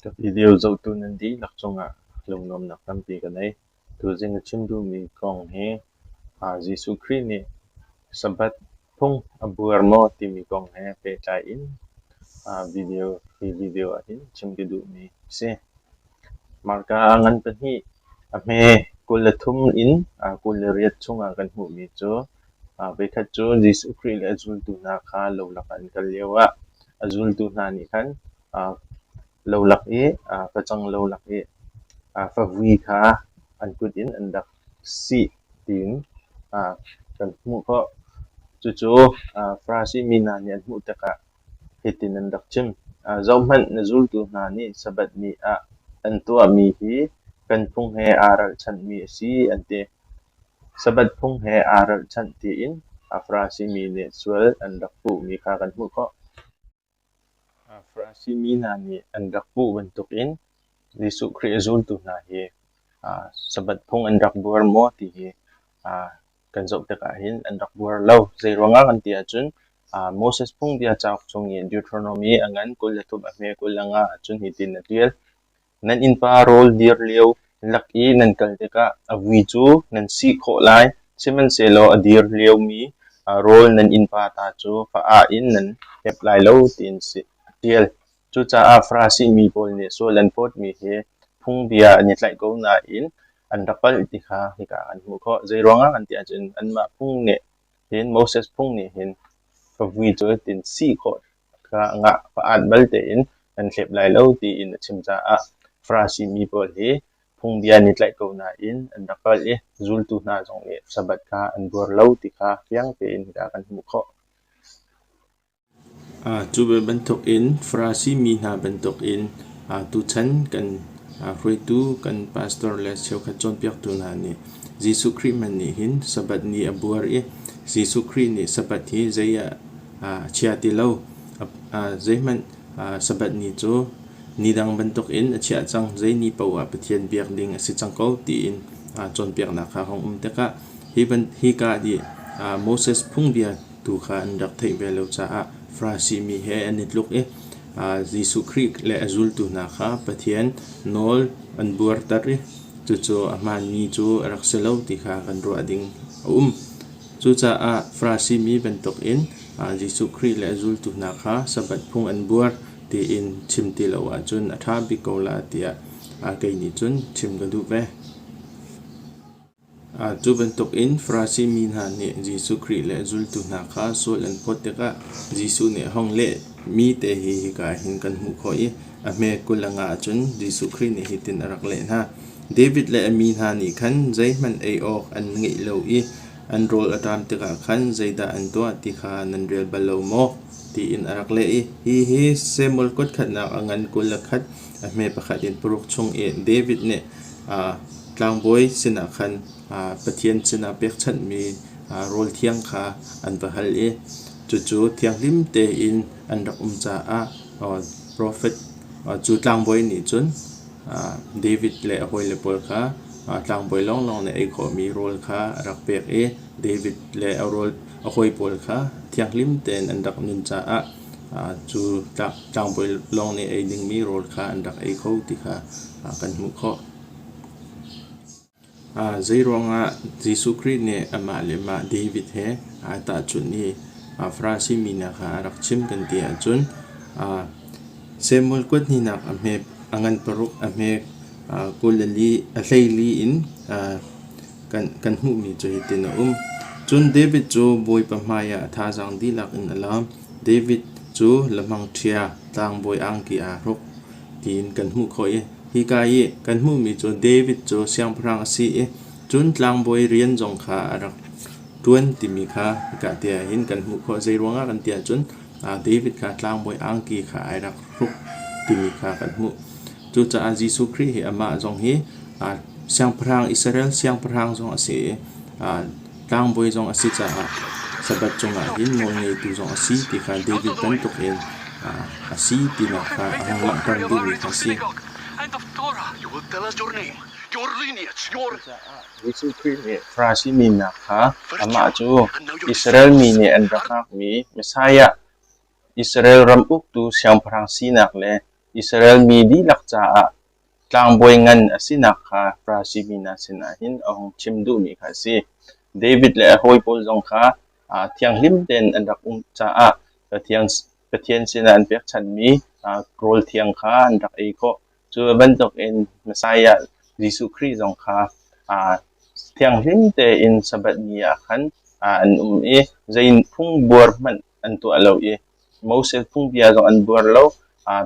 Ka video zohtu nan dihlak cungah lunglawmnak tampi ka ngei. Tuzing a chim duhmi kong hi ah Jesuh Khrih nih Sabbath phung a buar maw timi kong he pehtlai in ah video hi video ahhin chim ka duhmi a si. Mahka ah ngan pahnih a hme kul le thum in ah kul le riat chungah kan hmuhmi cu Voikhat cu Jesuh Khrih le a zultu hna kha lolak ah an kal lioah a zultu hna nih khan lolak i facang lolak i favui kha an kut in an rak sih tiin kan hmuh khawh. Cucu Farasi mi hna nih an hmuh tikah hitin an rak chim, Zohhmanh, na zultu hna nih Sabbath ni ah an tuahmi hi kan phung he aa ralchanhmi a si, an ti. Sabbath phung he aa ralhchanh tiin Farasi mi nih sual an rak puhmi kha kan hmuh khawh. Farasi mi hna nih an rak puh bantukin Jesuh Khrih zultu hna hi Sabbath phung an rak buar maw ti hi kan zoh tikah hin an rak buar lo. Zeiruangah kan ti ahcun Moses phungbia cauk chung i Deuteronomy a ngan kul le thum a hme kul le nga ahcun hitin a ṭial: Nan innpa rawl dir lio lak i nan kal tikah a vui cu nan si khawh lai, sihmanhsehlaw a dir liomi rawl nan innpa ta cu fa ah in nan hep lai lo, ti an si a ṭial. Cucaah Farasi mi pawl nih sual an phawtmi hi phungbia an i tlaih ko nain an rak palh ti kha hika ah an hmuh khawh. Zeiruangah kan ti ahcun anmah phung nih hin Moses phung nih hin fa vui cu tin si khawh ngah pa'an bal tein an thlep lai lo tiin a chim caah Farasi mi pawl hi phungbia nih tlaih ko nain an rak kal i zultu hna zong nih Sabbath kha an buar lo ti kha fiang tein hika kan hmuh khawh. Cu ve bantukin Farasi mi hna bantukin tuchan kan hruaitu kan pastor le cheukhat cawnpiaktu hna nih Jesuh Khrih hmanh nih hin Sabbath ni a buar i Jesuh Khrih nih Sabbath hi zei ah a chia ti lo. Zeihmanh Sabbath ni cu ni dang bantuk in a chiah cang. Zei ni paoh ah Pathian biak ding a si cang ko tiin cawnpiaknak kha hung um tikah hi ka dih Moses phungbia tu kha an rak theih ve lo caah Farasi mi he an i tluk i Jesuh Khrih le a zultu hna kha Pathian nawl an buarter i cucu a hmaanmi cu a rak si lo ti kha kan ruah ding a um. Cucaah Farasi mi bantukin Jesuh Khrih le a zultu hna kha Sabbath phung an buar tiin chim ti lo ahcun a ṭha bik ko la tiah kei nih cun chim ka duh ve. Cu bantukin Farasi mi hna nih Jesuh Khrih le a zultu hna kha sual an phawt tikah Jesuh nih a hong lehmi te hi hika ah hin kan hmuh khawh i A hme kul a ngah ahcun Jesuh Khrih nih hitin a rak leh hna, David le a mi hna nih khan zeihmanh ei awk an ngeih lo i an rawl a ṭam tikah khan zeidah an tuah ti kha nan rel bal lo maw? tiin a rak leh i hihi Samuel kutkhatnak a ngan kul a khat a hme pakhat in paruk chung i David nih aa tlangbawi sinah khan aa Pathian sinah pekchanhmi aa rawl thiang kha an va hal i cucu thianghlim tein an rak um caah profet cu tlangbawi nih cun David le a hawile pawl kha tlangbawi lawnglawng nih ei khawhmi rawl kha a rak pek i David le a rawl a hawi pawl kha thianghlim tein an rak nun caah cu tlangbawi lawng nih ei dingmi rawl kha an rak ei kho ti kha kan hmuh khawh. Zeiruangah Jesuh Khrih nih amah le mah David he aa tahchunh i a Farasi mi hna kha a rak chim kan ti ahcun Samuel kuat hnihnak a hme a ngan paruk a hme kul a li a hleili in kan hmuhmi cu hitin a um. Cun David cu Bawipa hmaiah a thazaang dihlak in a laam. David cu lamangṭhia tlangbawi angki aa hruk. tiin kan hmuh khawh i hika i kan hmuhmi cu David cu siangpahrang a si i cun tlangbawi rian zong kha a rak ṭuan timi kha hika te ah hin kan hmuh khawh. Zeiruangah kan ti ahcun David kha tlangbawi angki kha ai rak hruk timi kha kan hmuh. Cucaah Jesuh Khrih hi amah zong hi siangpahrang Israel siangpahrang zong a si i Tlangbawi zong a si caah Sabbath cungah hin nawlngeitu zong a si ti kha David bantukin a si tinak kha a hung langhter duhmi kha a si. Jesuh Khrih nih Farasi mi hna kha amah cu Israel mi nih an rak ngakmi Messiah, Israel ram uktu Siangpahrang sinak le Israel mi dihlak caah Tlangbawi ngan a sinak kha Farasi mi hna sinah hin a hung chim duhmi kha a si. David le a hawi pawl zong kha thianghlim tein an rak um caah Pathian, Pathian sinah an pekchanhmi rawl thiang kha an rak ei khawh. Cu bantukin Messiah Jesuh Khrih zong kha thianghlim tein Sabbath ni ah khan an um i zei phung buar hmanh an tuah lo i Moses phungbia zong an buar lo.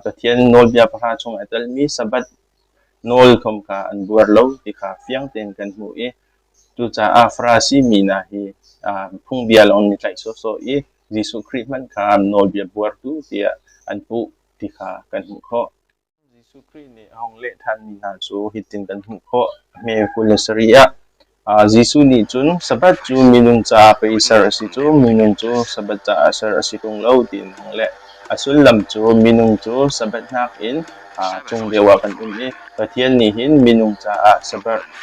Pathian nawlbia pahra chung a telmi Sabbath nawl khom kha an buar lo ti kha fiang tein kan hmuh i cucaah Farasi mi hna hi phungbia lawng an i tlaih sawhsawh i Jesuh Khrih hmanh kha nawlbia buartu tiah an puh ti kha kan hmuh khawh. Jesuh Khrih nih a hung leh ṭhanmi hna cu hitin kan hmuh khawh, hme kul le sarih ah, Jesuh nih cun, Sabbath cu minung caah pei ser a si cu, minung cu Sabbath caah ser a si ṭung lo, tiin a hung leh. A sullam cu minung cu Sabbath nakin chung lio ah kan um i Pathian nih hin minung caah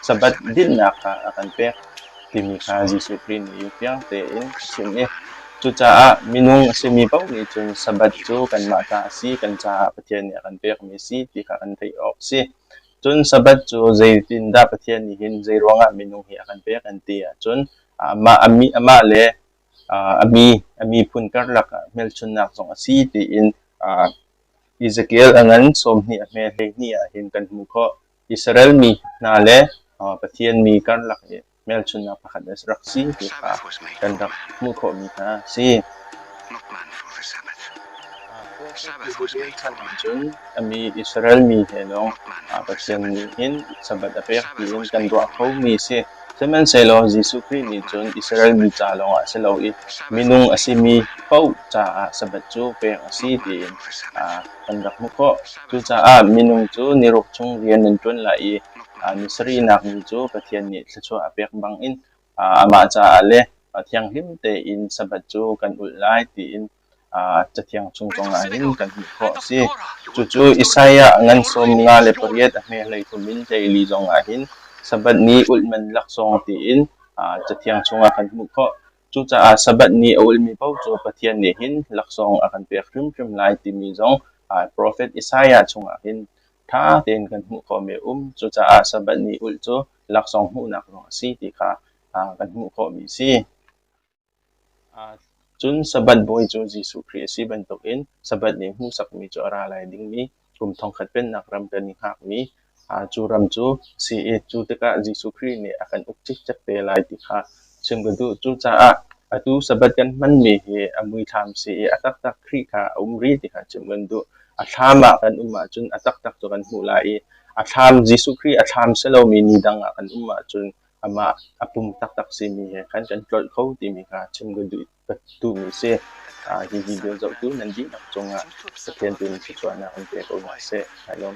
Sabbath dinhnak kha a kan pek. timi kha Jesuh Khrih nih fiang tein a chim i cucaah minung a simi paoh nih cun Sabbath cu kanmah ta a si, kan caah Pathian nih a kan pekmi a si ti kha kan theih awk a si. Cun Sabbath cu zeitindah Pathian nih hin zeiruangah minung hi a kan pek an ti ahcun amah, amah le a mi, a miphun karlak ah hmelchunhnak zong a si tiin Ezekiel a ngan sawmhnih a hme hleihnih ah hin kan hmuh khawh. Israel mi hna le Pathian mi karlak i hmelchunhnak pakhat rak si ti kha kan rak hmuh khawhmi hna a si. Sabbath was made for man. Cun a mi Israel mi he lawng Pathian nih hin Sabbath a pek tiin kan ruah khomi a si. Sihmanhsehlaw Jesuh Khrih nih cun Israel mi ca lawngah a si lo i minung a simi paoh caah Sabbath cu pek a si tiin kan rak hmuh khawh. Cucaah minung cu niruk chung rian nan ṭuan lai i ni sarihnak ni cu Pathian nih thluachuah a pek bangin amah caah le thianghlim tein Sabbath cu kan ulh lai tiin Cathiang chung kong ahhin kan hmuh khawh a si. Cucu Isaiah ngan sawm nga le pariat a hmailei kum in teili zong ahhin Sabbath ni ulh man laksawng tiin Cathiang chungah kan hmuh khawh. Cucaah Sabbath ni a ulmi paoh cu Pathian nih hin laksawng a kan pek hrimhrim lai timi zong profet Isaiah chungah hin ṭha tein kan hmuh ko mi a um. Cucaah Sabbath ni ulh cu laksawng hmuhnak zong a si ti kha kan hmuh khawhmi a si. Cun Sabbath bawi cu Jesuh Khrih a si bantukin Sabbath ni hmuhsakmi cu a ra lai dingmi kum thongkhat pennak ram kan i hngakmi cu ram cu CA cu tikah Jesuh Khrih nih a kan uk cikcek te lai ti kha chim ka duh. Cucaah atu Sabbath kan hmanmi hi a muithlam si i a taktak Khrih kha a um rih ti kha chim kan duh. A thlam ah kan um ahcun a taktak cu kan hmuh lai i a thlam Jesuh Khrih a thlam si lomi ni dang ah kan um ahcun amah a pum taktak simi he khan kan tlolh kho timi kha chim ka duh. ka duhmi a si. Hi video zoh tu nan dihlak cungah Pathian tu nih thluachuahnak in pe ko hna seh. Hai lawm.